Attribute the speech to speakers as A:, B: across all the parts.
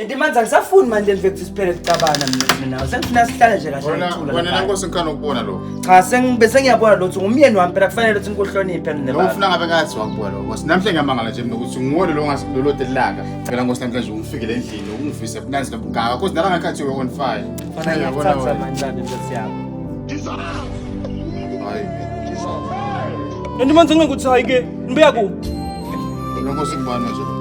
A: Kanti manje angisafuni manje nje ukuthi siphele kucabana mina nawe. Sengifuna sihlale nje kahle Wena ngicula. wena lapha. nankosi ngikhana ukubona
B: lokho. Cha sengibe sengiyabona
A: lo ukuthi ngumyeni wami phela kufanele ukuthi ngikuhloniphe mina. Lo baba. ufuna ngabe ngathi wakubuya
B: lo nkosi. Namhlanje ngiyamangala nje mina ukuthi nguwona lo ngasi lo lodelaka. Phela nkosi namhlanje ungifikele endlini ungivise ubunanzi lobungaka. Cause nala ngakhathi we on fire. Fana Uyabona ngiyakuthatha wena. manje lapha
A: nkosi
B: yami. Hayi. Kanti
C: manje ngeke ukuthi hayi ke nibeya kuphi? Lo nkosi
B: ngibani manje?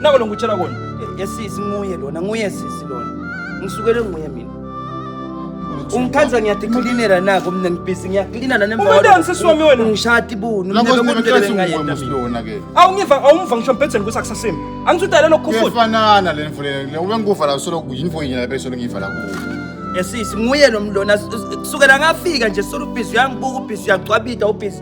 C: nako lo ngikutshela kona yesisi nguye
A: lona nguye sisi lona ngisukele nguye mina ungikhanza ngiyadiklinela nako mina ngibhizi ngiyaklina Ungatanga sisi wami wena.
C: nangishati bunu Nako mina
A: bekudelele singathi ngayedwa
B: mina.
A: ungumfana ke.
B: awungiva awungiva ngisho
C: mbhedzeni kusakusasemi angithi udale lokhu futhi Kuyefanana le mfule
B: le ube ngikuva la solo kuyinfo yini la bese ngiyiva la kuwe. yesisi nguye
A: lo mlona kusukela ngafika nje solo ubhizi uyangibuka ubhizi uyagcwabida ubhizi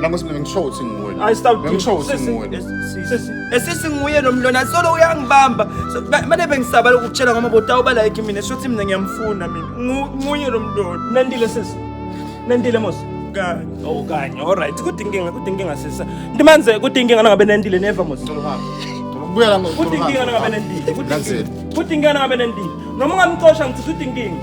C: Nami sibili
B: ngisho ukuthi nguwe la. Ay stop. Ngisho ukuthi Sisi, nguwe la. Sisi,
A: esisi nguye nomlona solo uyangibamba. So, ma- Manje bengisaba lokukutshela ngoba botawuba like mina shothi mina ngiyamfuna mina. Ngu- Nguye nomlona. Nandile sisi.
C: Nandile mos. Kanye.
A: Oh kanye. All
C: right. Kuthi inkinga, kuthi inkinga sisi. Ndimanze kuthi inkinga nangabe nandile never mos. Ngicela uhambe. Ngicela ukubuya la ngo- Kuthi inkinga
B: nangabe
C: nandile. Kuthi Nanzile. inkinga.
B: Kuthi
C: inkinga nangabe nandile. Noma ungamcosha ngithi kuthi inkinga.